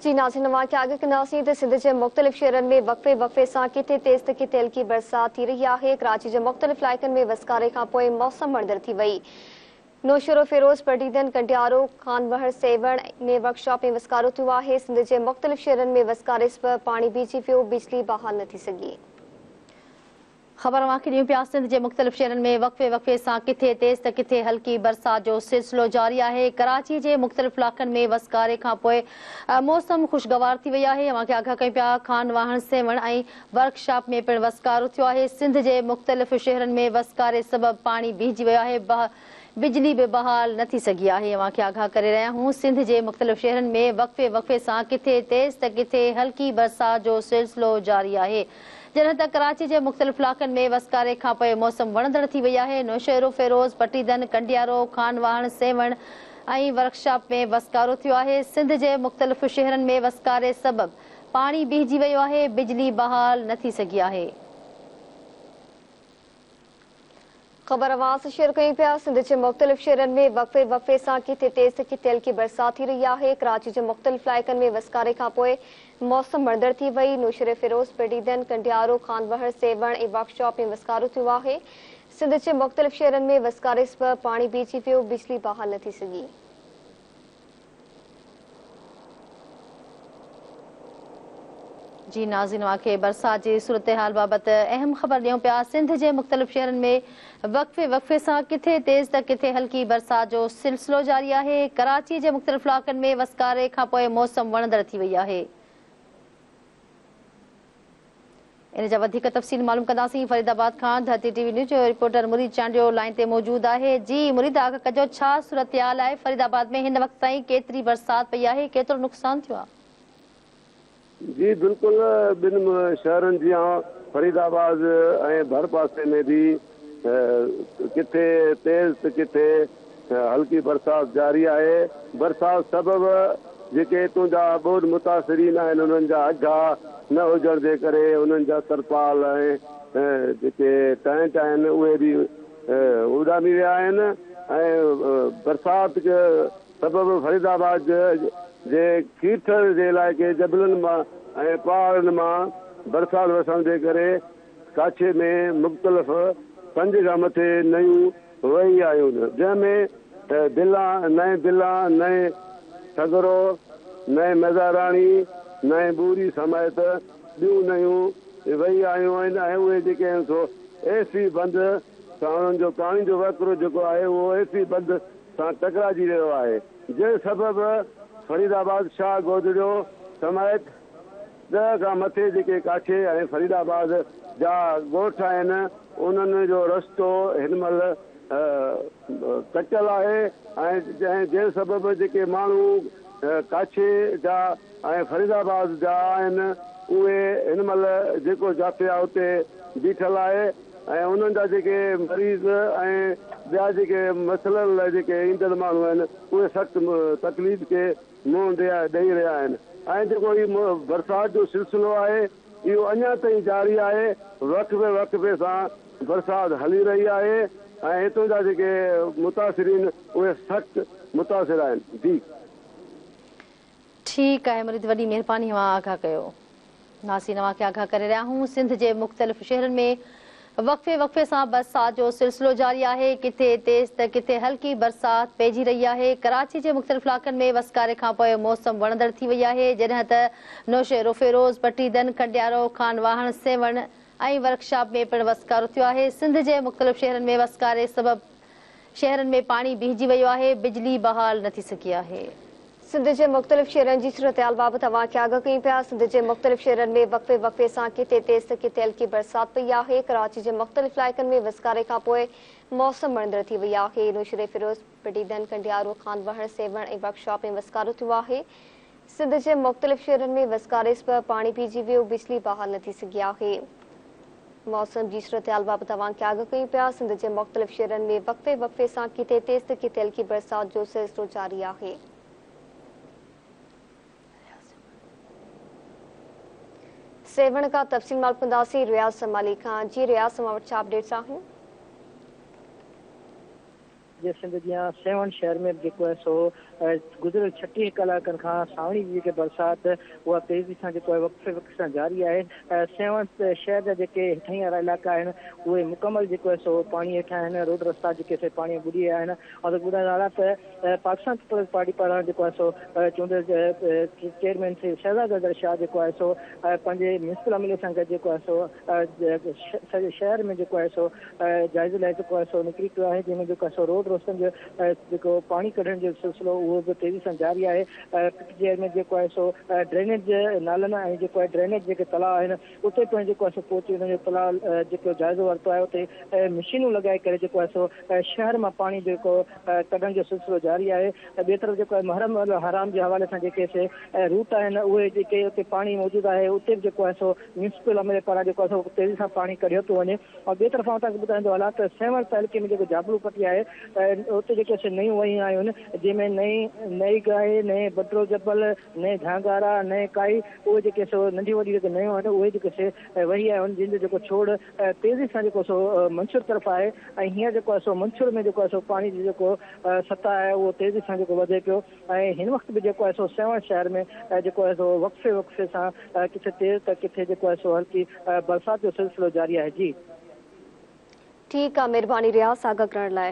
جي ناظرين اوهان کي آگهه ڪنداسين ته سنڌ جي مختلف شهرن ۾ وقفي وقفي سان ڪٿي تيز ته ڪٿي هلڪي برسات ٿي رهي آهي ڪراچي جي مختلف علائقن ۾ وسڪاري کان پوء موسم وڻندڙ ٿي وئي نوشهروفيروز پرڊيدن ڪنڊيارو خانوهر سيوهڻ ۾ ورڪشاپ ۾ وسڪارو ٿيو آهي سنڌ جي مختلف شهرن ۾ وسڪاري سبب پاڻي بيهجي ويو بجلي بحال نه ٿي سگهي. خبر اوهان کي ڏيون پيا سنڌ جي مختلف شهرن ۾ وقفي وقفي سان ڪٿي تيز ته ڪٿي هلڪي برسات جو سلسلو جاري آهي ڪراچي جي مختلف علائقن ۾ وسڪاري کان پوء موسم خوشگوار ٿي وئي آهي اوهان کي آگاهه ڪيون پيا خان واهڻ سيوهڻ ۽ ورڪ شاپ ۾ پڻ وسڪارو ٿيو آهي سنڌ جي مختلف شهرن ۾ وسڪاري سبب پاڻي بيهجي ويو آهي بجلي به بحال نه ٿي سگهي آهي اوهان کي آگاهه ڪري رهيا آهيون سنڌ جي مختلف شهرن ۾ وقفي وقفي سان ڪٿي تيز ته ڪٿي هلڪي برسات جو سلسلو جاري آهي. جڏهن ته ڪراچي جي مختلف علائقن ۾ وسڪاري کان پوء موسم وڻندڙ ٿي وئي آهي، نوشهروفيروز، پٽيدن، ڪنڊيارو، خان واهڻ، سيوهڻ ۽ ورڪشاپ ۾ وسڪارو ٿيو آهي، سنڌ جي مختلف شهرن ۾ وسڪاري سبب پاڻي بيهجي ويو آهي، بجلي بحال نه ٿي سگهي آهي. خبر اوهانسان شيئر ڪيون پيا سنڌ جي مختلف شهرن ۾ وقفي وقفي سان ڪٿي تيز ته ڪٿي هلڪي برسات ٿي رهي آهي ڪراچي جي مختلف علائقن ۾ وسڪاري کانپوء موسم وڻندڙ ٿي وئي نوشهروفيروز پيڊيدن ڪنڊيارو خانوهر سيوهڻ ۽ ورڪ شاپ ۾ وسڪارو ٿيو آهي سنڌ جي مختلف شهرن ۾ وسڪاري سبب پاڻي بيهجي ويو بجلي بحال نه ٿي سگهي. جي ناظرين اوهان کي برسات جي صورتحال بابت اهم خبر ڏيون پيا سنڌ جي مختلف شهرن ۾ وقفي وقفي سان ڪٿي تيز ته ڪٿي هلڪي برسات جو سلسلو جاري آهي ڪراچي جي مختلف علائقن ۾ وسڪاري کانپوء موسم وڻندڙ ٿي وئي آهي ان جا وڌيڪ تفصيل معلوم ڪنداسين فريد آباد کان ڌرتي ٽي وي نيوز جو رپورٽر مريد چانڊيو لائين تي موجود آهي جي مريد آگاهه ڪجو ڇا صورتحال آهي فريد آباد ۾ هن وقت تائين ڪيتري برسات پئي آهي ڪيترو نقصان ٿيو آهي. جي بلڪل ٻن شهرن جيان فريد آباد ۽ ڀرپاسي ۾ به ڪٿي تيز ته ڪٿي هلڪي برسات جاري آهي، برسات سبب جيڪي اتون جا ٻوڏ متاثرين آهن انهن جا اگها نه هجڻ جي ڪري انهن جا ترپال ۽ جيڪي ٽينٽ آهن اهي به اڏامي ويا آهن ۽ برسات سبب فريد آباد جي کيرٿر جي علائقي جبلن مان ۽ پهاڙن مان برسات وسڻ جي ڪري ڪاڇي ۾ مختلف پنج کان مٿي نئيون وهي آيون، جنهن ۾ دلان، نئين دلان، نئين سگهرو، نئين مزاراڻي، نئين ٻوري سميت ٻيون نئيون وهي آيون آهن ۽ اهي جيڪي آهن سو ايفي بند سان انهن جو ڪهاڻين جو وهڪرو جيڪو آهي اهو ايفي بند سان ٽڪراجي ويو آهي جنهن سبب فريد آباد، شاهه گودڙيو سميت. ڏهه کان مٿي جيڪي ڪاٺي ۽ فريد آباد جا ڳوٺ آهن انهن جو رستو هن مهل ڪٽيل آهي ۽ جنهن سبب جيڪي ماڻهو ڪاٺي جا ۽ فريد آباد جا آهن اهي هن مهل جيڪو جافيا اتي بيٺل آهي ۽ انهن جا جيڪي مريض ۽ ٻيا جيڪي مسئلن لاء جيڪي ايندڙ ماڻهو آهن اهي سخت تڪليف کي منهن ڏيئي رهيا آهن ۽ جيڪو هي برسات جو سلسلو آهي اهو اڃا تائين جاري آهي وقفي وقفي سان برسات هلي رهي آهي ۽ هتان جا جيڪي متاثرين اهي سخت متاثر آهن جي. ٺيڪ آهي مريد وڏي مهرباني اوهان آگاهه ڪيو. ناسين اوهان کي آگاهه ڪري رهيا آهون سنڌ جي مختلف شهرن ۾ وقفي وقفي سان برسات جو سلسلو جاري آهي ڪٿي تيز ته ڪٿي هلڪي برسات پئجي رهي آهي ڪراچي جي مختلف علائقن ۾ وسڪاري کان پوء موسم وڻندڙ ٿي وئي آهي جڏهن ته نوشهروفيروز پٽيدن کنڊيارو خان واهڻ سيوهڻ ۽ ورڪشاپ ۾ پڻ وسڪارو ٿيو آهي سنڌ جي مختلف شهرن ۾ وسڪاري سبب شهرن ۾ پاڻي بيهجي ويو آهي، بجلي بحال نه ٿي سگهي آهي. سنڌ جي مختلف شهرن جي صورتحال بابت اوهان کي آگاهه ڪيون پيا، سنڌ جي مختلف شهرن ۾ وقفي وقفي سان ڪٿي تيز ته ڪٿي هلڪي برسات پئي آهي، ڪراچي جي مختلف علائقن ۾ وسڪاري کانپوء موسم وڻندڙ ٿي وئي آهي، نوشهري فيروز، پٽيدن، ڪنڊيارو، خانوهڻ، سيوهڻ ۽ ورڪشاپ ۾ وسڪارو ٿيو آهي، سنڌ جي مختلف شهرن ۾ وسڪاريس به پاڻي پيجي ويو، بجلي بحال نه ٿي سگهي آهي. موسم جي صورتحال بابت اوهان کي آگاهه ڪيون پيا، سنڌ جي مختلف شهرن ۾ وقفي وقفي سان ڪٿي تيز ته ڪٿي هلڪي برسات جو سلسلو جاري آهي. سيوهڻ کان تفصيل معلوم ڪنداسين رياض سمالي کان، جي رياض اوهان وٽ ڇا اپڊيٽس آهن؟ جي سنڌ جيان سيوهڻ شهر ۾ به جيڪو آهي سو گذريل ڇٽيهه ڪلاڪن کان سانوڻي جي جيڪي برسات اها تيزي سان جيڪو آهي وقفي وقفي سان جاري آهي سيوهڻ شهر جا جيڪي هيٺاهين وارا علائقا آهن اهي مڪمل جيڪو آهي سو پاڻي هيٺان آهن روڊ رستا جيڪي سي پاڻي ٻڏي ويا آهن ۽ ٻڏڻ نالا ته پاڪستان پيپلز پارٽي پاران جيڪو آهي سو چونڊيل چيئرمين شهزاد اظهر شاهه جيڪو آهي سو پنهنجي ميونسپل عملي سان گڏ جيڪو آهي سو سڄي شهر ۾ جيڪو آهي سو جائزي لاء جيڪو آهي سو نڪري پيو آهي جنهن ۾ جيڪو آهي سو روڊ روشن جو جيڪو پاڻي ڪڍڻ جو سلسلو اهو به تيزي سان جاري آهي پي ٽي آء ۾ جيڪو آهي سو ڊرينيج نالن ۽ جيڪو آهي ڊرينيج جيڪي تلاء آهن اتي پڻ جيڪو آهي سو پهچي ان جو تلاء جيڪو جائزو ورتو آهي اتي مشينون لڳائي ڪري جيڪو آهي سو شهر مان پاڻي جيڪو ڪڍڻ جو سلسلو جاري آهي ٻي طرف جيڪو آهي محرم الحرام جي حوالي سان جيڪي سي روٽ آهن اهي جيڪي اتي پاڻي موجود آهي اتي به جيڪو آهي سو ميونسپل عملي پاران جيڪو آهي سو تيزي سان پاڻي ڪڍيو پيو وڃي ۽ ٻئي طرف آئون تهان کي ٻڌائيندو هلان ته سيوهڻ تعلقي ۾ جيڪو جابلو پٽي آهي اتي جيڪي سي نيون وهيون آيون آهن جنهن ۾ نئي نئي گاهي نئي بڊرو جبل نئي جهانگارا نئي ڪائي اهي جيڪي سو ننڍيون وڏيون جيڪي نيون آهن اهي جيڪي سي وهي آيون آهن جن جو جيڪو ڇوڙ تيزي سان جيڪو سو منڇور طرف آهي ۽ هينئر جيڪو آهي سو منڇور ۾ جيڪو آهي سو پاڻي جي جيڪو سطح آهي اهو تيزي سان جيڪو وڌي پيو ۽ هن وقت به جيڪو آهي سو سيوهڻ شهر ۾ جيڪو آهي سو وقفي وقفي سان ڪٿي تيز ته ڪٿي جيڪو آهي سو هلڪي برسات جو سلسلو جاري آهي جي. ٺيڪ آ مھرباني رياض آگاھ ڪرڻ لاء.